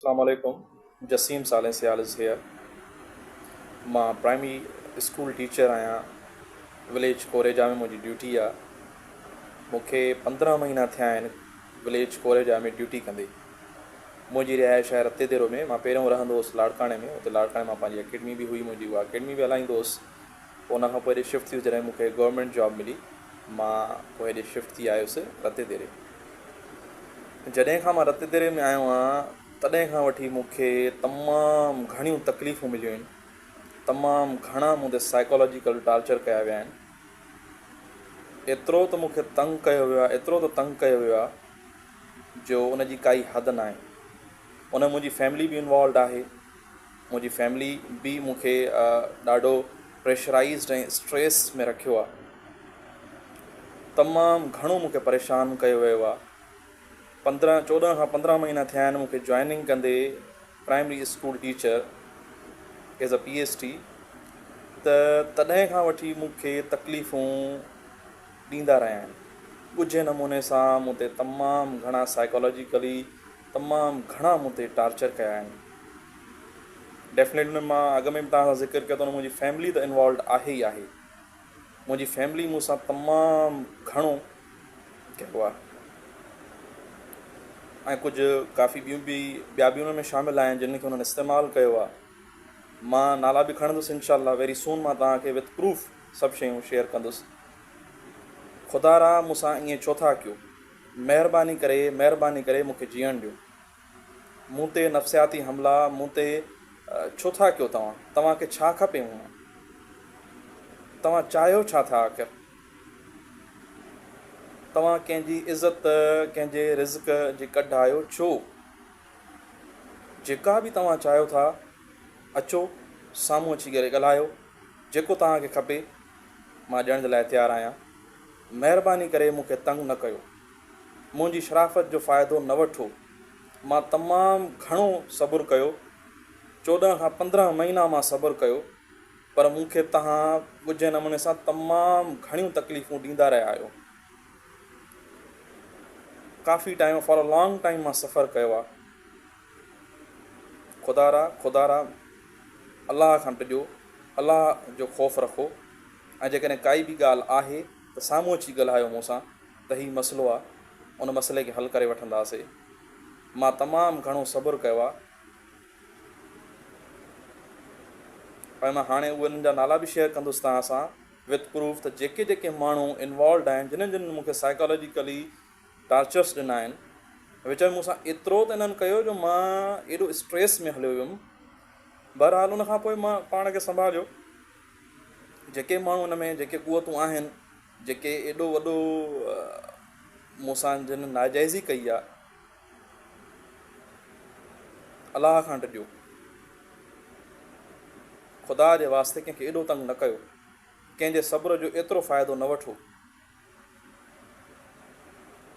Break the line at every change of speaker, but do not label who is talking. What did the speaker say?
اسلام عليڪم Jasim Saleh Sial is here مان پرائمري اسڪول ٽيچر آهيان وليج ڪوريجا ۾ منهنجي ڊيوٽي آ مون کي پندرهن مهينا ٿيا آهن وليج ڪوريجا ۾ ڊيوٽي ڪندي منهنجي رهائش آهي رتيديرو ۾ مان پهريون رهندو هوس لاڙڪاڻي ۾ اتي لاڙڪاڻي مان پنهنجي اڪيڊمي به هئي منهنجي اها اڪيڊمي به هلائيندو هوس ان کان پوء هيڏي شفٽ ٿيس جڏهن مون کي گورنمينٽ جاب ملي مان پوء هيڏي شفٽ ٿي آيس رتي ديري جڏهن کان مان رتي ديري ۾ آيو آهيان تڏهن کان وٺي مون کي تمام گهڻيون تڪليفون مليون آهن تمام گهڻا مون تي سائيڪالاجيڪل ٽارچر ڪيا ويا آهن ايترو ته مون کي تنگ ڪيو ويو آهي ايترو ته تنگ ڪيو ويو آهي جو ان جي ڪائي حد ناهي ان ۾ منهنجي فيملي به انوالوڊ آهي منهنجي فيملي به مون کي ڏاڍو پريشرائيزڊ ۽ اسٽريس ۾ رکيو آهي. تمام گهڻو مون کي پريشان ڪيو ويو آهي. پندرهن چوڏهن کان پندرهن مهينا ٿيا آهن مون کي جوائننگ ڪندي primary school teacher as a P S T ته تڏهن کان وٺي مون کي تڪليفون ڏيندا رهيا آهن. ڳجهي نموني سان مون تي تمام گهڻا سائيڪالاجيڪلي تمام گهڻا مون تي ٽارچر ڪيا آهن ڊيفنيٽ ۾ مان اڳ ۾ به توهان سان ذڪر ڪيو ته ان ۾ منهنجي فيملي ته انوالوڊ آهي ئي آهي منهنجي فيملي مون سان تمام گهڻو ڪيو آهي ۽ ڪجهه ڪافي ٻيون به ٻيا به ان ۾ شامل آهن جن کي انهن استعمال ڪيو آهي مان نالا به کڻندس انشاء الله ويري سون مان توهان کي وٿ پروف سڀ شيون شيئر ڪندس خدا را مون سان ائين ڇو ٿا ڪيو مهرباني ڪري مهرباني ڪري مون کي جيئڻ ڏيو. مون تي نفسياتي حملا مون تي ڇو ٿا ڪيو توهان؟ توهان کي ڇا کپي مون مان؟ توهان چاهيو ڇا ٿا آخر؟ توهان ڪنهن جي عزت ڪنهن جي رزق جي ڪڍ آهيو ڇو؟ جيڪا به توهان چاهيو ٿا اچو سامهون اچي ڳالهايو جيڪو توهان کي کپي مان ڏيڻ جي لاء تيار آهيان. مهرباني ڪري مون کي تنگ نه ڪيو. منهنجي شرافت جو فائدو نه وٺو. مان تمام گهڻو صبر ڪيو. چوڏهن کان پندرهن مهينا مان صبر ڪيو. پر مون کي توهان ڳجهي نموني سان تمام گهڻيون تڪليفون ڏيندا رهيا آهيو. ڪافي time for a long time مان سفر ڪيو آهي. خدارا خدارا الله کان ڊڄو. الله جو خوف رکو. ۽ جيڪڏهن ڪائي به ڳالهه آهي ته سامهون اچي ڳالهايو مون سان ته هي مسئلو آ ان مسئلي کي حل ڪري وٺنداسي. مان تمام گهڻو صبر ڪيو آ ۽ مان هاڻي انهن جا نالا به شيئر ڪندس توهان سان وٿ پروف ته جيڪي جيڪي ماڻهو انوالوڊ آهن جنهن جنهن مون کي سائيڪالاجيڪلي ٽارچرس ڏنا آهن وچ ۾ مون سان ايترو ته انهن ڪيو جو مان ايڏو اسٽريس ۾ هليو ويم بهرحال ان کان پوء مان پاڻ کي سنڀاليو. جيڪي ماڻهو ان ۾ جيڪي قوتون آهن جيڪي ايڏو وڏو مون سان جن ناجائزي ڪئي آ الله کان ڊڄو خدا جي واسطي ڪنهن کي ايڏو تنگ نه ڪيو ڪنهن جي صبر جو ايترو فائدو نه وٺو